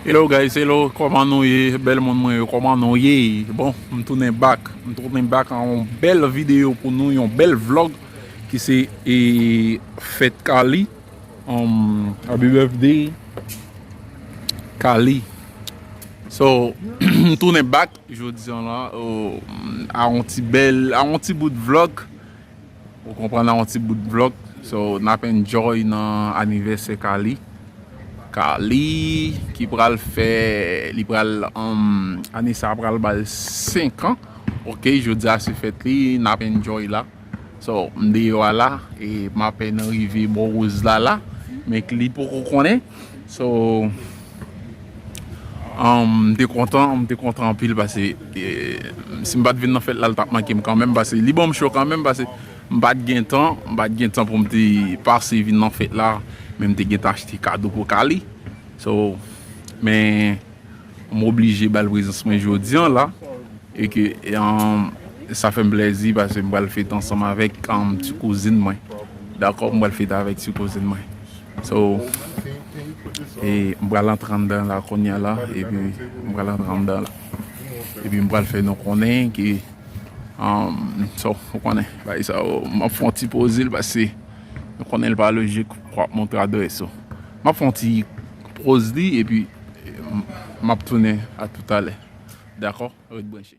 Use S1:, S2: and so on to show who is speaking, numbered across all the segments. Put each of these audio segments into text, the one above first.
S1: Hello guys hello koman nou ye bèl moun mwen yo koman nou ye bon m tounen bak m tounen bak an yon bèl videyo pou nou yon bèl vlog ki se e fèt kali happy birthday kali so m tounen bak jodi an la a yon ti bèl a yon ti bout vlog Ou konprann nan yon ti bout vlog so nap enjoy nan anivèsè Carly Carly ki pral fè li pral ane sa pral bal 5 ans ok jodi a se fèt li nap enjoy la so m deyò a la e m apèn rive bò Roselala men li poko konnen so. M te kontan, m te kontan anpil pase si m pa t vin nan fèt la li t ap manke m kanmenm pase li ban m cho kanmenm pase m pa t gen tan, m pa t gen tan pou m te pase vin nan fèt la men m te gentan achte kado pou Kali so men m oblije ba l prezans mwen jodi an la e ke sa fè m plèzi pase m pral fete ansanm avèk ti kouzin mwen dakò m pral fete avèk ti kouzin mwen. So, e m pral antre anndan la kounya la, epi m pral antre anndan la. Epi m pral fè nou konnen ke, so, ou konnen, bay sa yo, m ap fè yon ti poze l pase nou konnen l pa lojik pou w ap montre adrès ou. M ap fè yon ti poz li epi m ap tounen a toutalè. Dakò? Ret branche.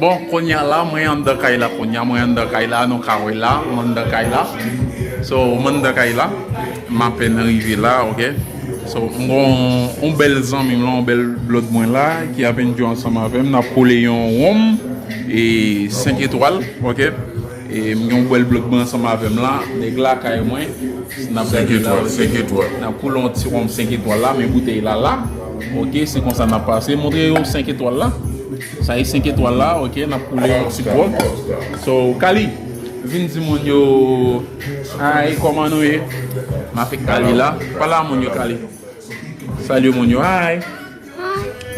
S1: Bon konya la mwen andan kay la konya mwen andan kay la nou ka wè la mwen andan kay la so mwen andan kay la m apèn rive la ok so m gon yon bèl zanmi m la yon bèl blòd mwen la ki ap enjoy ansanm avè m n ap kole yon wonm e 5 etwal ok e m gen yon bèl blòd mwen ansanm avè m la nèg la kay mwen n ap gade la ok 5 etwal n ap kole yon ti wonm 5 etwal la men boutèy la la ok se konsa n ap pase montre yo 5 etwal la. Sa e 5 etwal la ok nap koule yon ti grog so Kali vin di moun yo hi koman nou ye m avek Kali la pale a moun yo Kali salye moun yo hi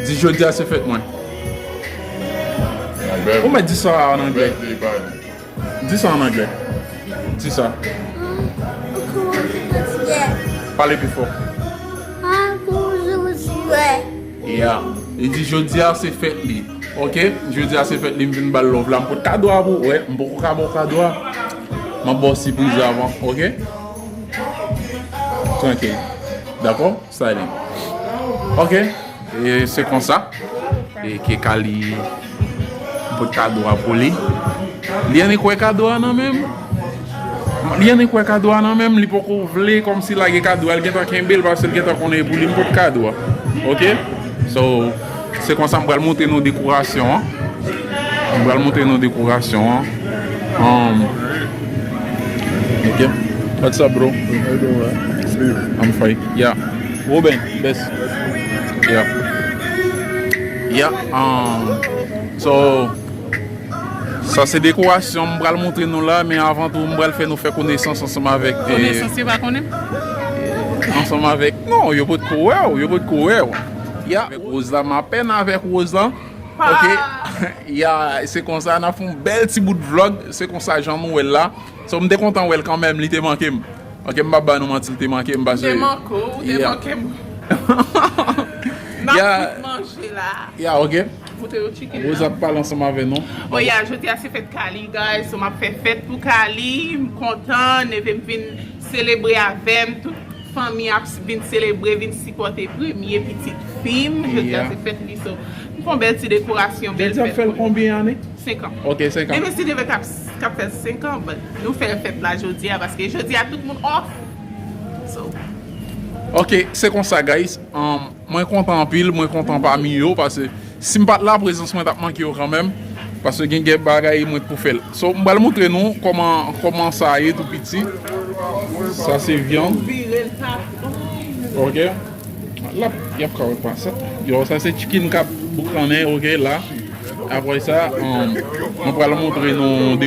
S1: di jodia se fèt mwen ou mèt di sa an anglè. Di sa an anglè. Di sa. Pale pi fò. Yeah. Li di jodi a se fèt li. Ok. Jodi a se fèt li. M vin bal love la. M pot kado a pou. Wè. M poko ka baw kado a. M ap baw sipriz avan. Ok. Trankil. Dakò. Styling Ok E se konsa E ke Kali Pot kado a pou li Li annik wè kado a nan menm Li annik wè kado a nan menm Li poko vle kòmsi lage kado a Li gentan kenbel paske li gentan konnen e pou li m pot kado a Ok So Se konsa m pral montre nou dekorasyon an. M pral montre nou dekorasyon an. Um, ok. What's up, bro? I'm fine. Yeah. Ruben, best. Yeah. Yeah. Um, so, sa se dekorasyon m pral montre nou la, men avan tou m pral fè nou fè konesans ansanm avèk. Konesans yo pa konnen?
S2: Ansanm
S1: avèk. Non, yo pot ko wè ou, yo pot ko wè ou. Ya avèk Rose la m apèn avèk Rose lan ok ya se konsa nap fè yon bèl ti bout vlog se konsa jan nou wèl la so m te kontan wèl kanmenm li te manke m ok m pap ba nou manti li te manke m pase m te manke w ou te
S2: manke m nap fout
S1: manje la ya ok goute
S2: yon chicken
S1: nan Rose ap
S2: pale ansanm avè
S1: nou bon ya jodi a se
S2: fèt Kalie guys so map fè fèt pou Kalie m kontan neve m vin selebre avè m tout. Fanmi ap vin selebre vin sipòte premye pitit fim jodi a se fèt li so m fon bèl ti dekorasyon bèl fèt pou li 5 ans men
S1: nou
S2: si
S1: devan
S2: kap fèl 5 ans but nou fèl fèt la jodi a paske jodi a tout moun off so.
S1: Ok se konsa guys. Mwen kontan anpil, mwen kontan pami yo pase sim pat la prezans mwen tap manke yo kanmenm pase gen gen bagay mwen t pou fèl so m pral moutre nou koman koman sa ye tou piti sa se vyann ok lap yap kawòt pase yo sa se tchikin kap boukannen ok la aprè sa mwen pral moutre nou.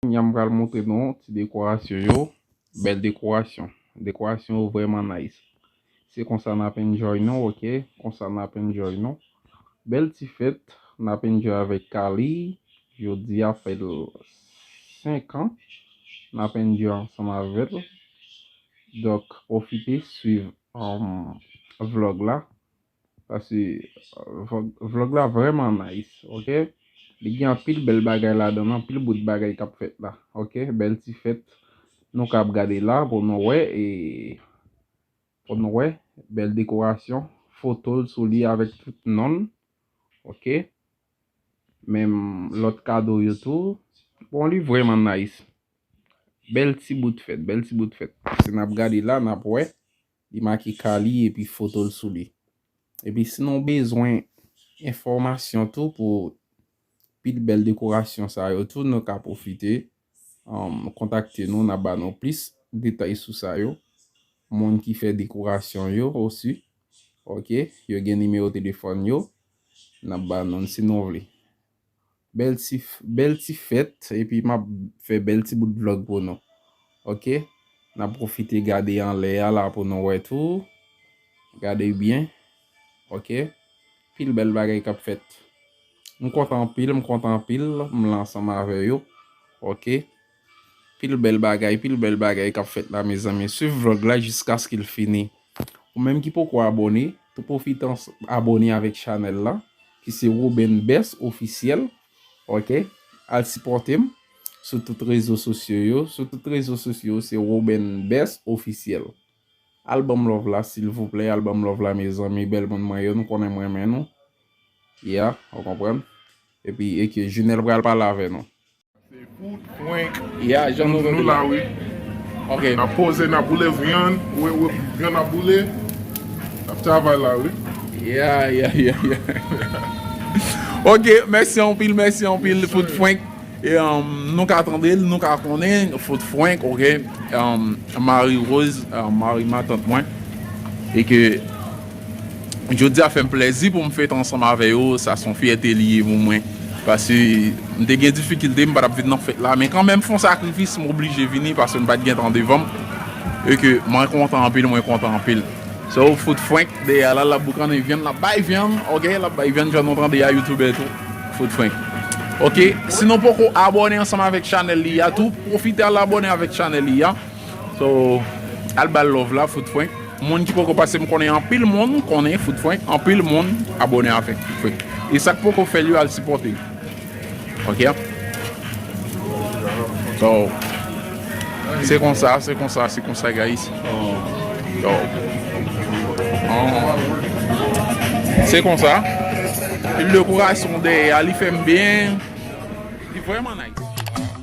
S1: Kounya m pral montre nou ti dekorasyon yo, bèl dekorasyon, dekorasyon yo vrèman nice. Se konsa nap enjoy nou ok, konsa nap enjoy nou. Bèl ti fèt nap enjoy avèk Kaly, jodi a fèl 5 an, nap enjoy ansanm avèl. Donk pwofite swiv vlog la. Pase vlog la vreman nice ok li gen anpil bel bagay ladann anpil bout bagay kap fet la ok bel ti fet nou ka ap gade la pou nou we e pou nou we bel dekorasyon fotol sou li avek tout nonl ok menm lot kado yo tou bon li vreman nice bel ti bout fet bel ti bout fet se nap gade la nap we. Li make ka li epi foto l sou li. Epi si nou bezwen enfòmasyon tou pou pil bèl dekorasyon sa yo tou nou ka pwofite kontakte nou n ap ba nou plis detay sou sa yo. Moun ki fè dekorasyon yo osi ok yo gen nimewo telefòn yo n ap ba nou l si nou vle. Bèl ti bèl ti fèt epi map fè bèl ti bout vlog pou nou ok nap profite gade anlè a la pou nou wè tou gade byen ok pil bèl bagay kap fèt m kontan anpil m kontan anpil m la ansanm avè yo ok. Pil bèl bagay pil bèl bagay kap fèt la mezanmi swiv vlog la jiskaskil fini ou menm ki poko abone tou profite abone avèk chanèl la ki se Roben Best officiel ok al sipòtem sou tout rezo sosyo yo sou tout rezo sosyo yo se Roben Best officiel al banm love la silvouplè al banm love la mezanmi bèl moun mwen yo nou konnen m renmen nou ya ou konprann epi e ke Junel pral pale avè nou.
S3: Ya jan nou nou
S1: la wi.
S3: Ok. Na
S1: poze na
S3: boule vyann. Wi wi vyann ap boule. Nap travay la wi. Ya ya
S1: ya ya. Ok mèsi anpil mèsi anpil fout fwenk. E nou ka tande l nou ka konnen fout fwenk ok. Mari Rose mari matant mwen. E ke. Jodi a fè m plèzi pou m fèt ansanm avè yo, sa son fyète li ye pou mwen. Pase m te gen difikilte m pa tap vin nan fèt la men kanmenm fon sakrifis m oblije vini pase m pat gen tan devan m e ke mwen kontan anpil mwen kontan anpil. Sa ou fout frenk dèyè la lap boukannen vyann lap bay vyann ok lap bay vyann jan nou tande a youtubè tou fout frenk ok si nou poko abòne ansanm avèk chanèl li a tou pwofite al abòne avèk chanèl li a. So al bal love la fout frenk. Moun ki poko pase m konnen anpil moun konnen fout frenk anpil moun abone avek fout frenk e sak poko fel yo al sipote l ok so se konsa se konsa se konsa guys so se konsa pil de kourason dèyè a li fem byen li vreman nice.